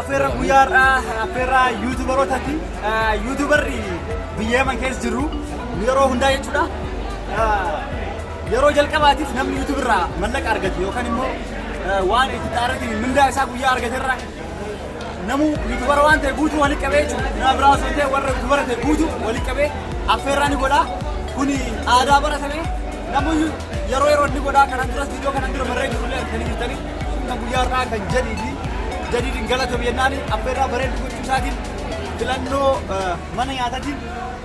Afeerra guyyaa har'aa afeerra yuutubarootati. Yuutubarri biyya Yaman keessa jiru yeroo hundaa jechuudha. Yeroo jalqabaatiif namni yuutubarraa mallaqa argate yookaan immoo waan itti xaaratiin mindaa isaa guyyaa argaterraa Namuu yuutubara waan ta'e guutuu walitti qabee jechuudha. Nama biraa osoo hin ta'e warra yuutubara ta'e guutuu walitti qabee affeerraa ni godha. Kuni aadaa baratame namoonni yeroo yeroo ni godha kanan duras viidiyoo kanan dura marree jirullee argitanii jirtanii kan guyyaa irraa kan jedhii fi jadiidin galatoom jennaan affeerraa bareedu gochuu isaatiin filannoo eh, mana nyaatatiin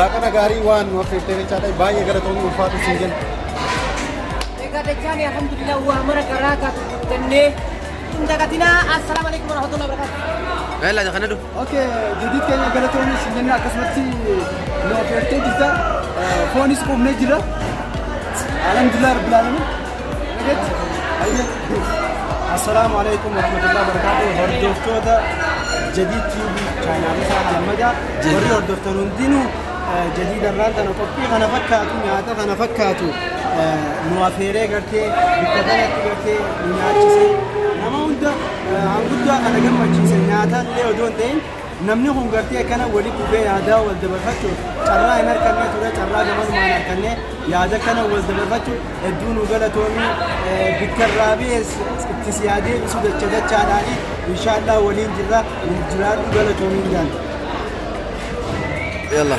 Laaqana gaarii waan nu affeertee jechaadha. Baay'ee galatoomi ulfaatu siin jenna. Egaa dachaanii alhamdulillah waa mara garaa taatu guuttannee hin dagatinaa. Assalaamu alaikum warahmatullahi wabarakatuh. Bella kana du. Okay, jadid keenya galatoomi siin jenna akkasumatti nu affeertee jirta. Foonis quufnee jira. Alhamdulillah rabbil alamin. Assalaamu alaikum warahmatullahi wabarakatuh hordoftoota jadiid tiibii chaayinaalii isaa kana madaa warri hordoftan hundinuu jadiid irraan tana qophii kana fakkaatu nyaata kana fakkaatu nu afeeree gartee bikka kanatti gartee nyaachisee nama hunda hanguddaa kana gammachiise nyaata illee odoo hin ta'in Namni kun gartee akkana walitti dhufee yaadaa wal dabarfachuuf carraa hin harkannee ture carraa gamanumaan harkannee yaada kana wal dabarfachuuf hedduu nu galatoomii bikka irraa ba'ees itti si haa deebisu dacha dachaadhaani inshaallaa waliin jirra nuuf jiraadhu galatoomiin jaan. Yalla.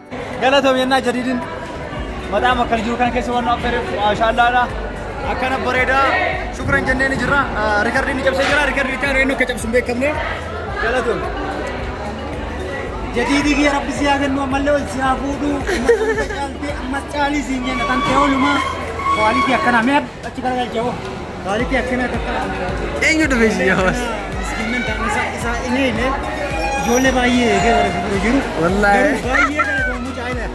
Galatoom yennaa jadiidin mataa makkar jiru kana keessa waan nu affeereef maashaallaadha. Akkana bareedaa shukran jennee ni jirra. Rikardiin ni cabsee jira. Rikardiin itti aanu eenyu akka cabsu hin beekamne. Galatoom. Jadiidii kiyya rabbi si haa kennu ammallee ol si haa fuudhu. Ammas caaltee ammas caalii siin jenna kan ta'e oolumaa. Kwaaliti akkanaa mee achi garagalchee hoo. Maalitti akkanaa takka Eenyu dhufe isin yamas? miskiinnan ta'an isaa isaa hin eegne ijoollee baay'ee eegee bara fuuldura jiru. Wallaahi. Garuu baay'ee kana ta'u mucaa ina.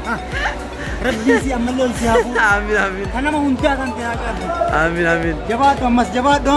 Rabbii si ammallee ol si haa fuudhu. Amiin amiin Kan nama hundaa kan ta'e haa qabdu. amiin amiin. Jabaadhu ammas jabaadhu.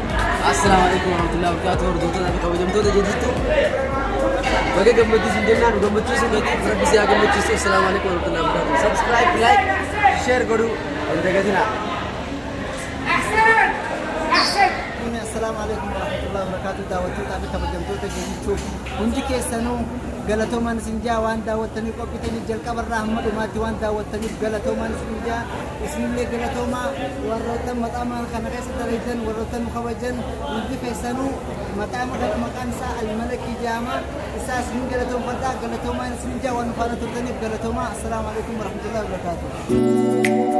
Assalaamu alaikum warahmatullahi wabarakatuh hordoftoota fi kabajamtoota jidduutti baga gammadduu sin jennaan gammachuu sin gatii rabbi si haa gammachiisu assalaamu alaikum warahmatullahi wabarakatuh subscribe like share godhuu hin dagatinaa Assalaamu alaikum warahmatullahi wabarakatuh daawwattootaa fi kabajamtoota jidduutti hundi keessanuu galatoomaan sin jaa waan daawwattaniif qophitaniif jalqabarraa hamma dhumaatti waan daawwattaniif galatoomaan sin jaa Isinillee galatoomaa warroottan maxaamaa kana keessa dalaydan warroottan nu kabajan hundi keessanuu maxaama kana maqaan isaa almalakii jaama isaa isinin galatoomfadha galatoomaan isinin jaa waan nu faana turtaniif galatoomaa assalaamu alaikum warahmatullahi wabarakaatuh